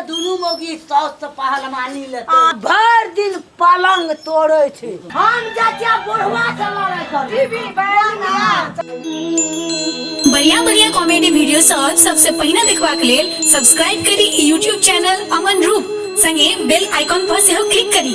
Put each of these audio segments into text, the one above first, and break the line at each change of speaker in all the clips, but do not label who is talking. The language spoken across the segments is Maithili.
दुनू मोगी साउस से पहलवानी ले भर दिन पलंग तोड़े छे हम चाचा बुढ़वा से लड़ाई कर बीबी बढ़िया बढ़िया कॉमेडी वीडियो सब सबसे पहिने देखबा के लेल सब्सक्राइब करी यूट्यूब चैनल अमन रूप संगे बेल आइकॉन पर सेहो क्लिक करी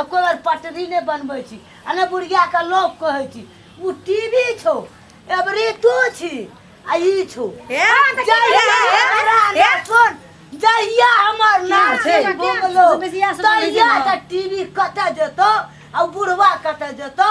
एको बेर पटरी नहि बनबै छी आ ने बुढ़ियाके लोक कहै छी ओ टीवी छौ एबरी तू छी आ ई छौ हे, तऽ की जहिया भेलै? हमरा हे? ने सुन जहिया हमर नाम छै? छै बोलो बुझिया से तहिया बुझिया। तऽ टीवी कतऽ जेतौ आ बुढ़वा कतऽ जेतौ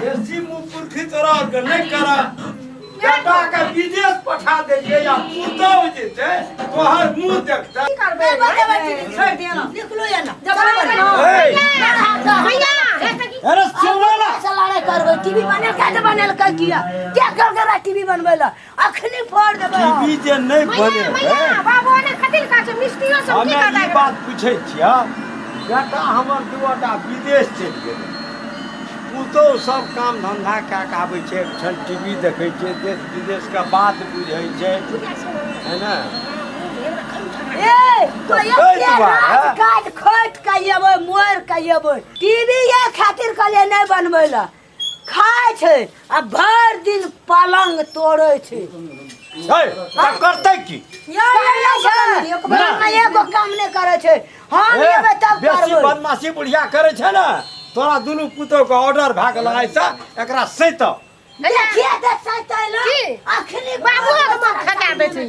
बेसी मुँह पुरखी तोरा के नहि करा बेटा के विदेश पठा देलियै या पुतहु जे छै तोहर मुँह देखतै अरे सुनला टीवी बनल क्या बनल कर किया क्या कर रहा टीवी बनवे ला अखनी फोड़ देबै हम। टीवी जे नहि मैया बने मैया बाबू ने कथि लगा छै मिस्त्रियो सब की हमे करता ई बात पूछै छियै बेटा हमर दूटा विदेश चलि गेलै पुतहु सब काम धन्धा कए कऽ आबै छै एकठाम टीवी देखै छै देश विदेशके बात बुझै छै है ने ए तो ये ताहि के दुआरे। रात काट खोट के येबै मोर के येबै टीवी ये खातिर कहले नहीं बनबै ल खाय छै आ भर दिन पलंग तोड़े छै है का करतै की कहले छै हमरा एगो काम नहि करे छै हम ए, एबै तब बेसी करबै बदमाशी बुढ़िया करे छै ने तोरा दुनू पुतोह के ऑर्डर भए गेल है से एकरा सैत देखिए तऽ सैतैला की? अखनी बाबू के मन खटा देथिन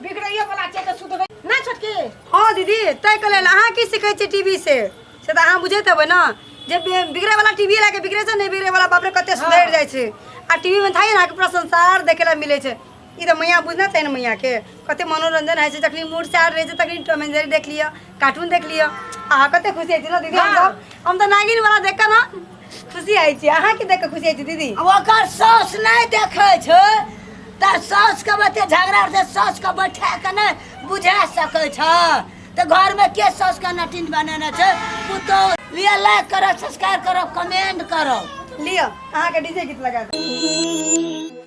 बिगड़ैयो वाला छै तऽ सुधरै नहि छोटकी हँ दीदी ताहिके लेल अहाँ की सीखै छियै टीवी से से तऽ अहाँ बुझैत हेबै ने जे बि- बिगड़े वाला टीवी लए के बिगड़े छै नहि बिगड़े वाला बाप रे कते सुधरि जाइ छै आ टीवी मे थाई अहाँके पूरा संसार देखे ला मिलै छै ई तऽ मैया बुझना चाही ने मैया के कते मनोरंजन होइ छै जखनी मूड चार रहै छै तखनी टॉम एंड जेरी देख लिअ कार्टून देख लियो अहाँ कते खुशी होइ छी ने दीदी हम हाँ। सब हम तो नागिन वाला देख के ना खुशी होइ छी अहाँ की देख के खुशी होइ छी दीदी ओकर सास नहीं देखे छै त सास के बते झगड़ा से सास के बैठा के ने बुझा सके छ त घर में के सास के नटिन बनेने छै पुतो लिए लाइक करो सब्सक्राइब करो कमेंट करो लियो अहाँ के डीजे गीत लगा दे